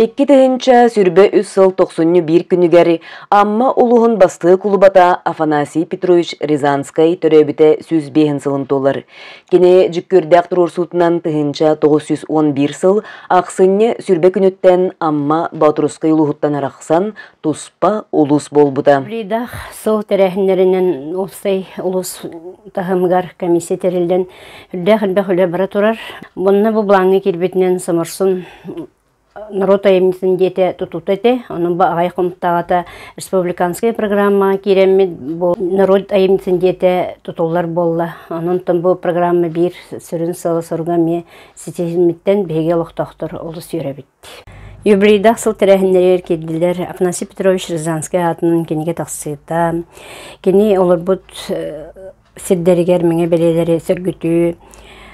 Икки тыһыынча сүрбэ үс сыл тохсунню биир күнүгэр Амма улуһун бастыа кулубата Афанасий Петрович Рязанскай төрөөбүтэ сүүс биэһин сылын туолар. Кини дьүккүрдээх туруорсуутунан тыһыынча тоғыз сүүс он биир сыл ахсынньы сүрбэ күнүттэн Амма Батурускай улуһуттан арахсан туспа улуус буолбута. Блидах сол тэрээһиннэринэн Уопсай улус таһымыгар комиссия тэриллэн үрдээх элбэх үлэ бара турар. Монна бу бланга кирбитинен Самарсун народ айымньытын диэте тутута этэ, онон бу аҕай хомтаата республиканская программа киирэммит бу народ айымньытын диэте тутуллар буолла. Онон тон бу программа биир сүрүн сыла соруга ми ситиһиммиттен биһиги олохтохтор олус үөрэбит. Юбилейдаах сыл тэрээһиннэригэр киирдилэр. Афанасий Петрович Рязанский аатынан кинигэ тахсыыта, кини олорбут сирдэригэр мэҥэ бэлиэлэри сөргүтүү,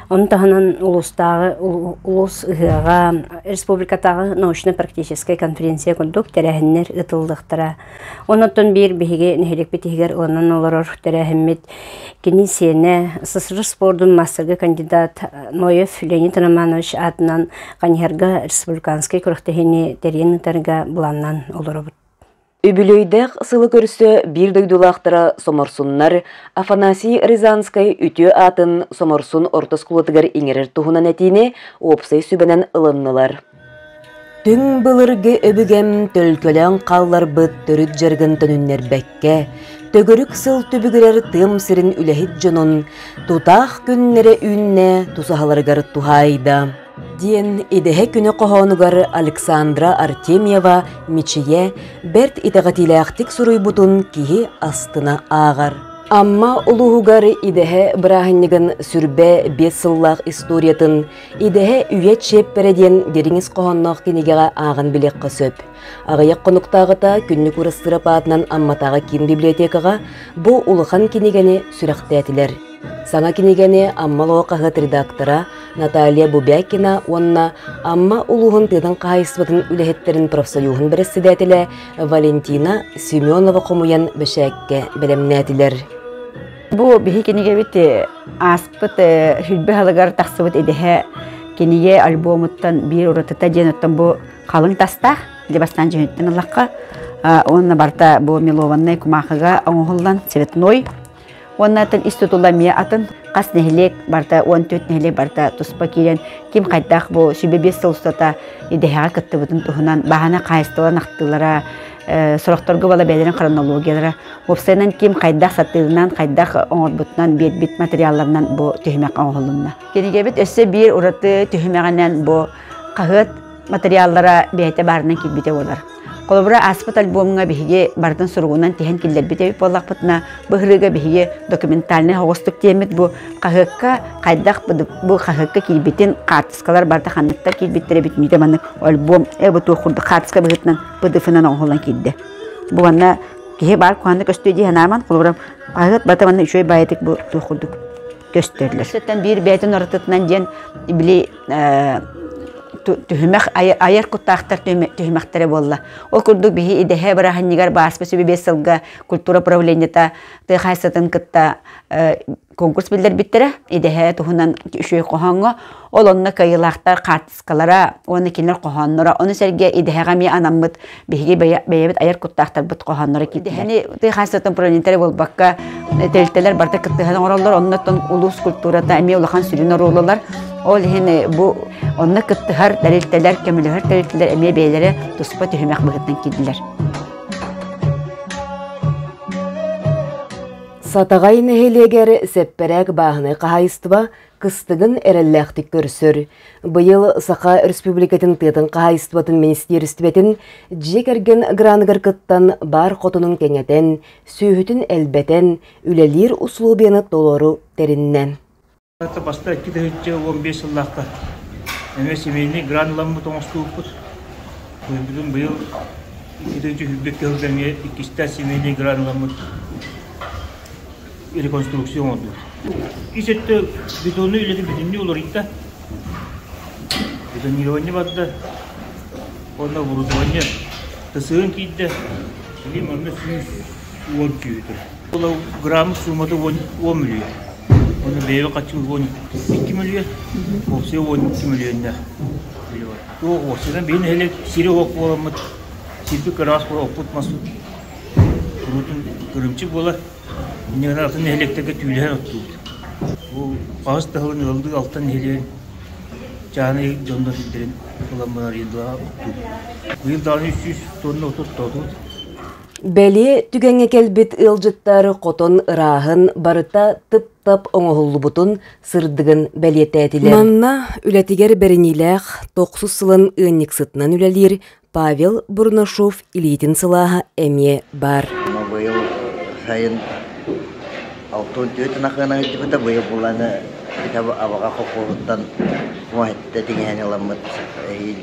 ону таһынан улуустааҕы улуус ыһыаҕа, республикатааҕы научно-практическай конференция курдук тэрээһиннэр ыытыллыахтара. Оннотон биир биһиги нэһиликпит иһигэр ылынан олорор тэрээһиммит кини сиэнэ СССР спордун маастарга кандидат Ноев Леонид Романович аатынан Каньһарга республиканскай күрэхтэһиини тэрийэн ыытарга быланнан олоробут. Үбүлүөйдээх сылы көрсө биир дойдулаахтара Соморсуннар Афанасий Рязанскай үтүө аатын Соморсун орто оскуолатыгар иҥэрэр туһунан этиини уопсай сүбэнэн ылыннылар. Түҥ былыргы өбүгэм төлкөлөөн хаалларбыт төрүт дьарыгын төнүннэрбэккэ, төгүрүк сыл түбүгүрэр тыам сирин үлэһит дьонун тутаах күннэрэ үүннэ тусаһаларыгар туһаайда, диэн идэһэ күнү хоһоонугар Александра Артемьева Мичийэ бэрт итэҕэтиилээхтик суруйбутун киһи астына ааҕар. Амма улууһугар идэһэ бырааһынньыгын сүрбэ биэс сыллаах историятын Идэһэ үйэ чиэппэрэ диэн дириҥис хоһоонноох кинигэҕэ ааҕан билиэххэ сөп. Аҕыйах хонуктааҕыта Күннүк Ырыстырап аатынан Амматааҕы киин библиотекаҕа бу улахан кинигэни сүрэхтээтилэр. Саҥа кинигэни Амма Лоҕохаһыт редактора Наталья Бубякина уонна Амма улууһун тыатын хаһаайыстыбатын үлэһиттэрин профсоюһун бэрэссэдээтэлэ Валентина Семенова хомуйан бэчээккэ бэлэмнээтилэр. Бу биһи кинигэбит ааспыт сүлбэ халыгар тахсыбыт идэһэ кинигэ альбомуттан биир уратыта диэн оттон бу халыҥ тастаах дьэ бастаан дьүһүнүттэн ыллахха уонна барыта бу мелованнай кумаахыга оҥоһуллан цветной уонна тыл ис тутула миэ атын хас нэһилиэк барыта уон төрт нэһилиэк барыта туспа киирэн ким хайдах бу сүбэ биэс сыл устата идэһэҕэ кыттыбытын туһунан бааһына хаайыстыбалан ахтыылара сорохторго бала бэйэлэрин хронологиялара Уопсайынан ким хайдах сатыылынан, хайдах оҥорбутунан, биэрбит материалларынан бу түһүмэххэ оҥоһулунна. Кинигэбит өссө биир ураты түһүмэҕинэн бу хаһыат материаллара бэйэтэ баарынан киирбитэ буолар. Холобура, ааспыт альбомҥа биһиги барытын суругунан тиһэн киллэрбит эбит буоллахпытына, бу ырыыга биһиги документальнай оҕустук тиэммит бу хаһыакка хайдах бу хаһыакка киирбитин хаартыскалар барыта ханныктар киирбиттэрэ бүт миитэ маннык альбом эбэ туох курдук хаартыска быһыытынан ПДФ-нан оҥоһуллан киирдэ. бу манна киһи баар куһаанна көстүө дии санааман холобурам хаһыат бата манна үчүгэй баайытык бу туох курдук көстөллөр сыттан биир бэйэтин ортотунан диэн били түһүмэх айар куттаахтар түһүмэхтэрэ буолла ол курдук биһи идэһэ быраһынньыгар бааспы сүбэ биэс сылга культура правлениета тыа хаайсатын кытта конкурс биллэрбиттэрэ идэһэ туһунан үчүгэй хоһооҥҥо ол онно кыайыылаахтар хаартыскалара уонна кинилэр хоһоонноро ону сэргэ идэһэҕэ эмиэ анаммыт биһиги бэйэбит айар куттаахтарбыт хоһоонноро идэһэни тыа хаачыстыбатын управлениетара буолбакка тэрилтэлэр барыта кыттыһан оҥороллор оннуттан улуус культурата эмиэ улахан сүрүн оруоллар ол иһин э, бу онно кыттыһар тэрилтэлэр көмөлөһөр тэрилтэлэр эмиэ бэйэлэрэ туспа түһүмэх быһыытынан киирдилэр Сатаҕай нэһилиэгэр сэппэрээк бааһынай хаһаайыстыба кыстыгын эрэллээхтик көрсөр. Быйыл Саха Республикатын тыатын хаһаайыстыбатын министиэристибэтин дьиэ кэргэн граныгар кыттан баар хотонун кэҥэтэн, сүөһүтүн элбэтэн, үлэлиир усулуобуйаны толору тэриннэ. Баста икки да сүүсчэ уон биэс сыллаахха эмиэ семейный граnuламмыт оҥостубуппут. Быйылгытын быйыл иккитинчи үрдүккэ сылдьа эмиэ иккистээх семейный граnuламмыт реконструкция оҥордубут. Ис өттө бетоннай үлэни бүтүннүү уларыйда. Бетонирование барда уонна оборудование тасыйан киирдэ. Билим онно сүүс уон киһитэ. Булаграмм суумата уон уон мүлүйэ. Ону бэйэбэ хаччы уон икки мүлүйэ, уопсайа уон икки мүлүйэннээх үлэ бар. Туох уопсайынан бэйин нэһилик сири уок буоламмыт, сирби кыраас буолампыт маспыт куруутун кырымчык буолар. Иннигинэ атын нэһиликтэрге түүлэһэр оттуубут. Бу хаһыс таһылын ыалдыы алтан нэһилиген чааны дьоннор илдерин ылан барар иен дуа оттуубут. Быйыл дааны үс сүүс тонна отут тоотубут. Бэлиэ түгэҥҥэ кэлбит ыалдьыттар хотон ырааһын барыта тып-тап оҥоһуллубутун сырдыгын бэлиэтээтилэр. Манна үлэтигэр бэриниилээх тохсус сылын ыанньыксытынан үлэлиир Павел Бурнашов илиитин сылааһа эмиэ баар. Быйыл сайын алтын түөтүн ахыана ыйдыбыта быйыл буланы битэ абаҕа хохуһуттан муоһитта тиҥэһэн ыламмыт эһиил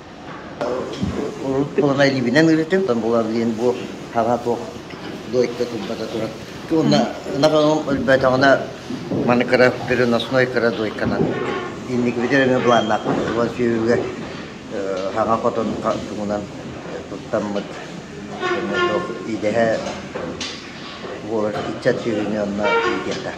Урут буолана илиибинэн ырытым, потом була билин бу хаба туох дойдуга турбата туран уонна ынах өлбөтөҕүнэ маны кыра переносной кыра дойканан инники битэр эмэ планнаахпыт уон сүөһүгэ хаҥа хотон тугунан туттаммыт идэһэ буолар ыччат сүөһүнү онно иитиэхтээх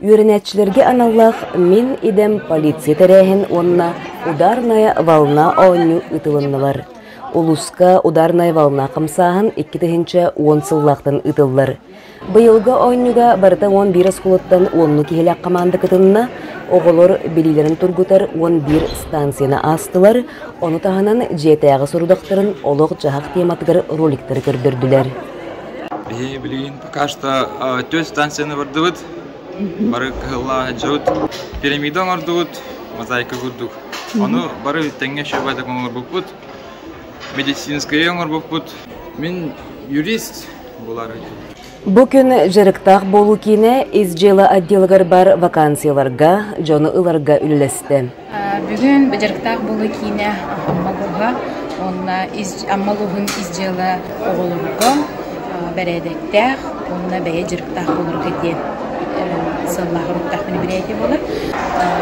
үөрэнээччилэргэ аналлаах Мин идэм полиция тэрээһин уонна Ударная волна оонньуу ыытылыннылар. Улууска Ударная волна хамсааһын икки тыһыынча уон сыллаахтан ыытыллар. Быйылгы оонньууга барыта уон биир оскуолаттан уонну киһилээх хамаанда кытынна, оҕолор билиилэрин тургутар уон биир станцияны аастылар, ону таһынан дьиэтээҕи сорудахтарын олох-дьаһах тематыгар роликтары көрдөрдүлэр. Биһиги билигин пока что өтө станцияны бардыбыт бары кыһыллаах дьыбыт пирамида оҥордубут мозаика курдук ону бары тэҥҥэ шөбө так оҥорбуппут медицинскайы оҥорбуппут мин юрист булар Бу күн дьарыктаах буолуу киинэ ис дьыала отделыгар бар вакансияларга, дьону ыларга үллэстэ. Бүгүн Бадьарыктаах буолуу киинэ Амма улууһа уонна Амма улууһун ис дьыала оҕолорго бэрээдэктээх уонна бэйэ дьарыктаах буоларга диэн сыаллаах соруктаах мероприятие буолар.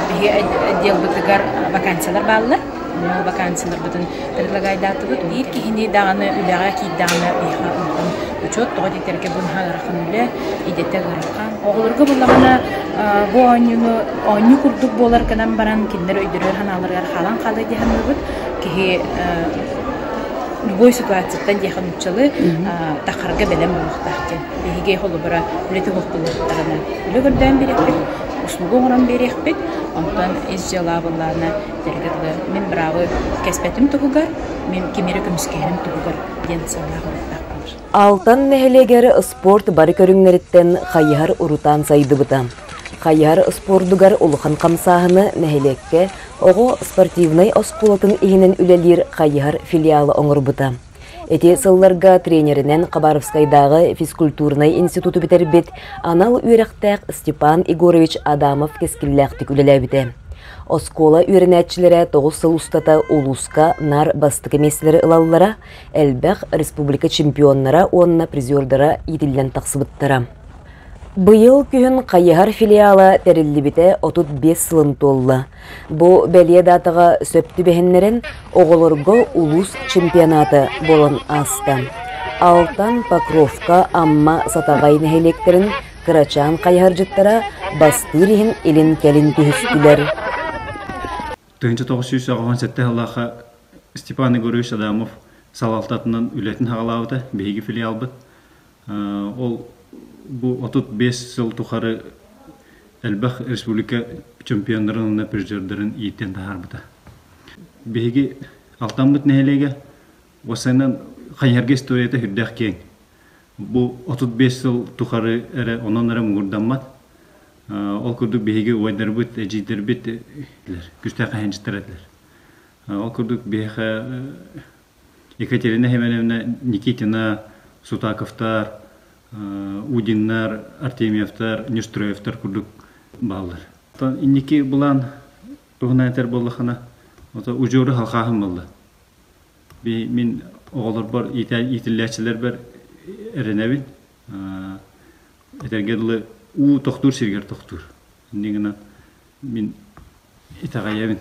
Биһи отделбытыгар вакансиялар бааллар. Ол вакансияларбытын предлагайдаатыбыт. Биир киһини даҕаны үлэҕэ киирдэҕинэ биһиэхэ улахан учет тоҕо диэтэргэ бу наһаа ыарахан үлэ, идэтэ ыарахан. Оҕолорго буоллаҕына бу оонньууну оонньуу курдук буолар гынан баран кинилэр өйдөрө санааларыгар хаалан хаалыа дии саныыбыт. Киһи любой ситуацияттан диэхэ нууччалы тахарга бэлэм буолуохтаах диэн. Биһиги холобура үлэти оһохтолуохтарына үлэ көрдөөн биэриэхпит, услуга оҥорон биэриэхпит. Онтон ис дьыалаабыллаана дэлгэ дылы мин браво кэспэтим туһугар, мин кимире көмүскэһэрим туһугар диэн санаа хомуктаах болар. Алтан нэһилиэгэр спорт бары көрүҥнэриттэн хайыһар урутаан сайдыбыта. Хайыһар спордугар улахан хамсааһыны нэһилиэккэ оҕо спортивнай оскуолатын иһинэн үлэлиир хайыһар филиалы оҥорбута. Ити сылларга тренеринэн Хабаровскайдааҕы физкультурнай институту бүтэрбит анал үөрэхтээх Степан Егорович Адамов кэскиллээхтик үлэлээбитэ. Оскуола үөрэнээччилэрэ тоҕус сыл устата улууска наар бастакы миэстэлэри ылаллара, элбэх республика чемпионнара уонна призердара иитиллэн тахсыбыттара. Быйыл күһүн Хайыһар филиала тэриллибитэ 35 сылын туолла. Бу бэлиэ даатаҕа сөп түбэһиннэрэн оҕолорго улуус чемпионаты болон ааста. Алтан Покровка Амма Сатаҕай нэһилиэктэрин кырачаан хайыһаржыттара бастыыр иһин илин-кэлин түһүстүлэр. тыһыынча тоҕус сүүс оҕоһун сэттэ сыллаахха Степан Егорович Адамов салалтатынан үлэтин саҕалаабыта, биһиги филиалбыт. Ол бу отут биэс сыл тухары элбэх республика чемпиондарын уонна призердарын ииттэн таһаарбыта. Биһиги Алтаммыт нэһилиэгэ Уопсайынан, хайыһарга историята сүрдээх киэҥ. Бу отут биэс сыл тухары эрэ онон эрэ муҥурдаммат. Ол курдук биһиги убайдарбыт, эдьиийдэрбит этилэр, күүстээх хаһаайынчыттар этилэр. Ол курдук биһиэхэ Екатерина Семеновна, Никитина, Сутаковтар, Удиннар, Артемьевтар, Нюстроевтар курдук бааллар. Инники былаан туһунан этэр буоллаххына, удьуору халхааһын буолла. мин оҕолорбор иитиллээччилэрбэр эрэнэбин этэргэ дылы уу тохтуур сиригэр тохтуур инньэ гынан мин итэҕэйэбин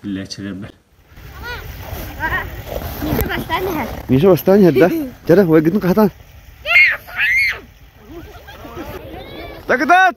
иитиллээччилэрбэр Миша бастаан иһэрдэ. Жара, ойгытын хатан. Дагыдат!